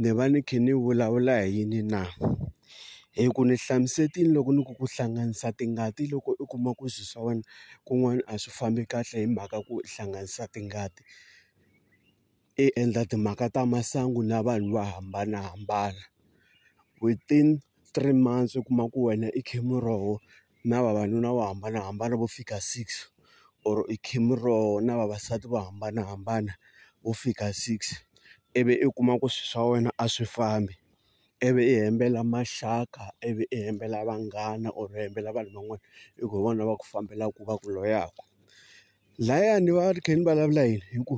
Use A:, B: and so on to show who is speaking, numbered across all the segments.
A: Ni va ni kha ni vulavula hi yini na? Hi ku ni hlamuserile loko ni ku ku hlanganisa tingati loko u kuma ku swilo swa wena kun'wana a swi fambi kahle hi mhaka ku hlanganisa tingati, i endla timhaka ta masangu na vanhu vo hambanahambana within. three months u kuma ku wena i khe muroho na vavanuna vo hambanahambana vo fika six or i khe muroho na vavasati vo hambanahambana vo fika six ivi i kuma ku swilo swa wena a swi fambi ivi i hembela maxaka ivi i hembela vanghana or i hembela vanhu van'wana hi ku hi vona va ku fambelaka va ku loyaka lahayani va ri kha ni vulavula yini hi ku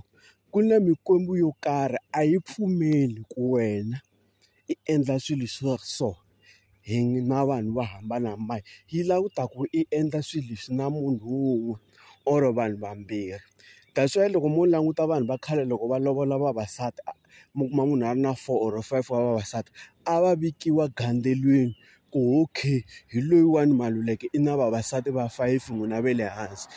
A: ku na mikwembu yo karhi a yi pfumeli ku wena. yi endla swilo swa so hi na vanhu vo hambanahambana yi lava ku ta ku i endla swilo leswi na munhu wun'we or vanhu vambirhi that's why loko mo languta vanhu va khale loko va lovola vavasati mi kuma munhu a ri na four or five wa vavasati a va vikiwa gandzeriwile ku okay hi loyiwani Maluleke i na vavasati va fayifi n'wina va le hansi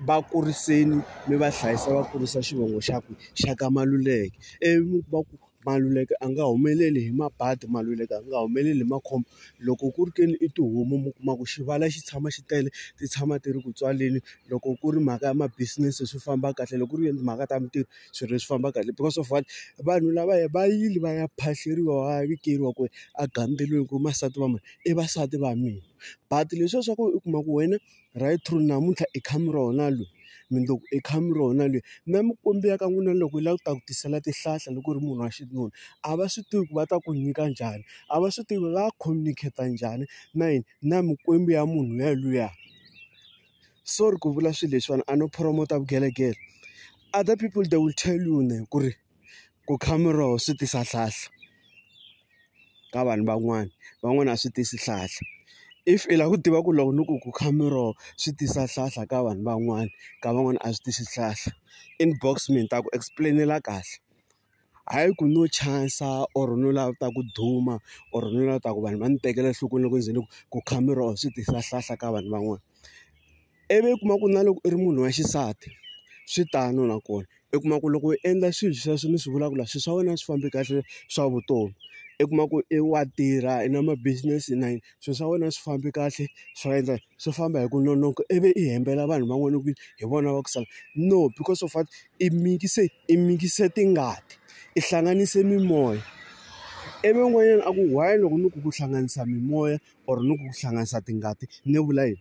A: va kuriseni mi va hlayisa va kurisa xivongo xa ku xa ka Maluleke ivi mi kuma ku. Maluleke a nga humeleli hi mabadi, Maluleke a nga humeleli hi makhombo. Loko ku ri ke ni i tihomu mi kuma ku xivala xi tshama xi tele, ti tshama ti ri ku tswaleni. Loko ku ri mhaka ya ma-business swi famba kahle, loko ku ri mhaka ta mintirho swilo swi famba kahle because of what? Vanhu lavaya va yile va ya phahleriwa va ya vikeriwa kwale egandzweleni ku ri vasati va mani? I vasati va mina. But leswiya swa ku u kuma ku wena. right through namuntlha i khame ra wona loyi mundzuku i khame ra wona loyi na mikwembu ya ka n'wina loko yi lava ku ta ku tisela tihlahla loko u ri munhu wa xinuna a va swi tivi ku va ta ku nyika njhani a va swi tivi va communicate njhani na yini na mikwembu ya munhu luya luya sorry ku vula swilo leswiwani a no promote vugelegele other people they will tell you ku ri. Ku kha miroho swi tisa nhlahla ka vanhu van'wani, van'wani a swi tisi nhlahla. If i lava ku tiva ku loko ni ku ku kha miroho swi tisa nhlahla ka vanhu van'wani, ka van'wani a swi tisi nhlahla, inbox me ni ta ku explain-ela kahle. Hayi ku no chance-a or no lava ku ta ku duma or no lava ku ta ku vanhu va ni tekela enhlokweni loko ni ze ni ku ku kha miroho swi tisa nhlahla ka vanhu van'wana. Ivi u kuma ku na loko u ri munhu wa xisati swi tano nakona u kuma ku loko u endla swilo sweswo ni swi vulaka la swilo swa wena a swi fambi kahle swa vutomi u kuma ku i wa tirha i na ma business na yini swilo swa wena a swi fambi kahle swa endla swi famba hi ku nonoka ivi i hembela vanhu van'wana ku hi vona va ku sala no because of what i mikise i mikise tingati i hlanganise mimoya ivi n'wanyana a ku why loko ni ku ku hlanganisa mimoya or ni ku ku hlanganisa tingati ni vula yini.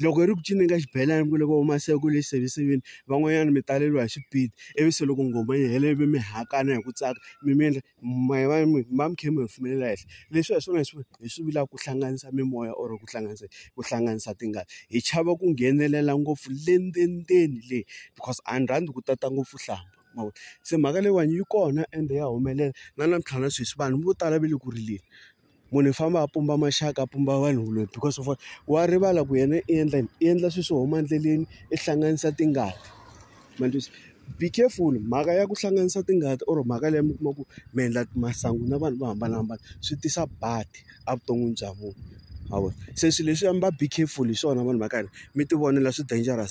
A: loko hi ri ku cinca ka xibelani ku loko huma se ku le xiseveseveni van'wanyana mi taleriwa hi xipidi ivi se loko nghoma yi hela ivi mi hakana hi ku tsaka mi mi endla mi va mi va mi kha mi humelela henhla leswi hi swona hi swi hi swi vulaka ku hlanganisa mimoya or ku hlanganisa ku hlanganisa tingana hi chava ku nghenelela ngopfu le ndzeni le because a ni rhandza ku tata ngopfu nhlambha ma vo se mhaka leyiwani yi kona ende ya humelela na namuntlha na sweswi vanhu vo tala va le ku rileni. munhu i famba a pumba maxaka a pumba vanhu loyi because of wa rivala ku yena i endla yini i endla swilo swo huma endleleni i hlanganisa tingana ma ni twisa be careful mhaka ya ku hlanganisa tingana or mhaka leyi mi kuma ku mi endla masangu na vanhu vo hambanahambana swi tisa badi evuton'wini bya munhu ma vona se swilo leswi a mi va be careful hi swona vanhu va ka hina mi tivonela swi dangerous.